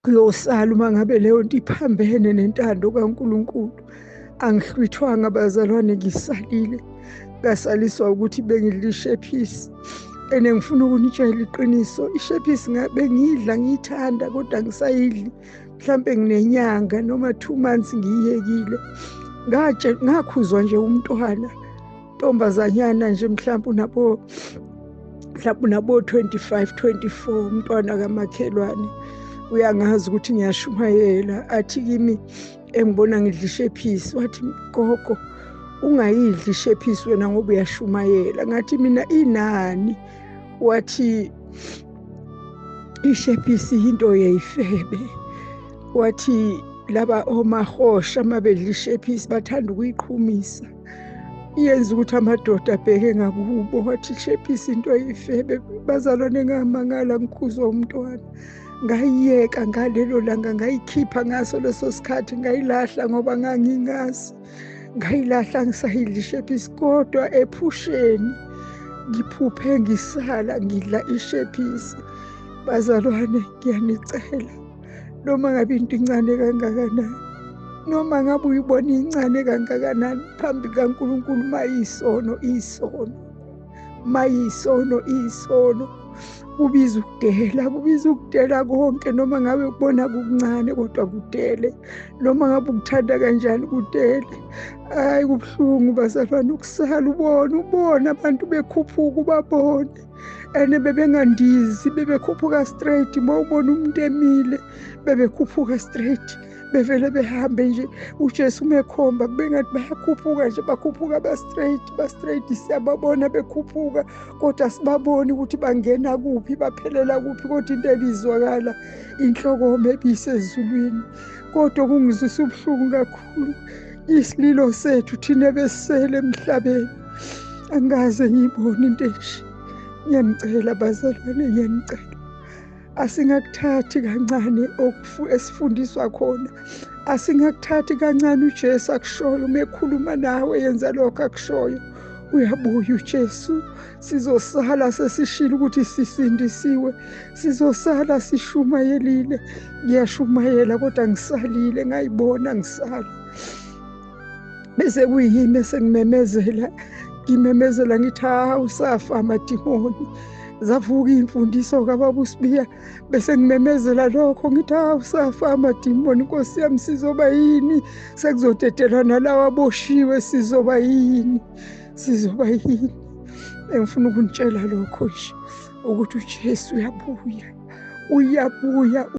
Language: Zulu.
uyosala uma ngabe leyo nto iphambene nentando kaNkulunkulu angihlwithwanga bazalwane ngisalile ngasaliswa ukuthi bengilishephisi and ngifuna ukunitshela iqiniso ishephisi bengiyidla ngiyithanda kodwa ngisayidli mhlampe nginenyanga noma two months ngiyiyekile ngakhuzwa nje umntwana ntombazanyana nje mhlawumbe unabo mhlawumbe unabo-25 24 umntwana kamakhelwane uyangazi ukuthi ngiyashumayela athi kimi engibona ngidla ishephisi wathi gogo ungayidli ishephisi wena ngoba uyashumayela ngathi mina inani wathi ishephisi yinto yeyifebe wathi laba omahosha uma bedla ishephisi bathanda ukuyiqhumisa yenza ukuthi amadoda abheke ngakubo wathi shephisa into ayifebe bazalwane ngamangala ngikhuzwa umntwana ngayiyeka ngalelo langa ngayikhipha ngaso leso sikhathi ngayilahla ngoba ngangingazi ngayilahla ngisayidlishephisi kodwa ephusheni ngiphuphe ngisala ngidla ishephisi bazalwane ngiyanicela noma ngabe into incane kangakanani noma ngabe uyibona incane kangakanani phambi kaNkulunkulu mayisono isono mayisono isono kubiza ukudela kubiza ukudela konke noma ngabe kubona kukuncane kodwa kudele noma ngabe ukuthanda kanjani kudele hayi kubuhlungu basafana ukusala ubona ubona abantu bekhuphuka ubabone and bebengandizi bebekhuphuka straight uma ubona umuntu emile bebekhuphuka straight bevele behambe nje ujesu umekhomba kubengathi bayakhuphuka nje bakhuphuka ba-straight ba-straight siyababona bekhuphuka kodwa sibaboni ukuthi bangena kuphi baphelela kuphi kodwa into ebizwakala inhlokoma ebisezulwini kodwa kungizwisa ubuhlungu kakhulu kakhulu isililo sethu thina besele emhlabeni angikaze ngiyibone into enje ngiyanicela bazalwane ngiyanicela asingakuthathi kancane esifundiswa khona asingakuthathi kancane ujesu akushoyo uma ekhuluma nawe yenza lokho akushoyo uyabuya ujesu sizosala sesishilo ukuthi sisindisiwe sizosala sishumayelile ngiyashumayela kodwa ngisalile ngayibona ngisala bese kuyini esengimemezela ngimemezela ngithi ha usafa amadimoni zavuka iy'mfundiso kababusibiya bese ngimemezela lokho ngithi ha usafa amadimoni nkosi yami sizoba yini sekuzodedelwa nalawa aboshiwe sizoba yini sizoba yini engifuna ukunitshela lokho nje ukuthi uJesu uyabuya uyabuya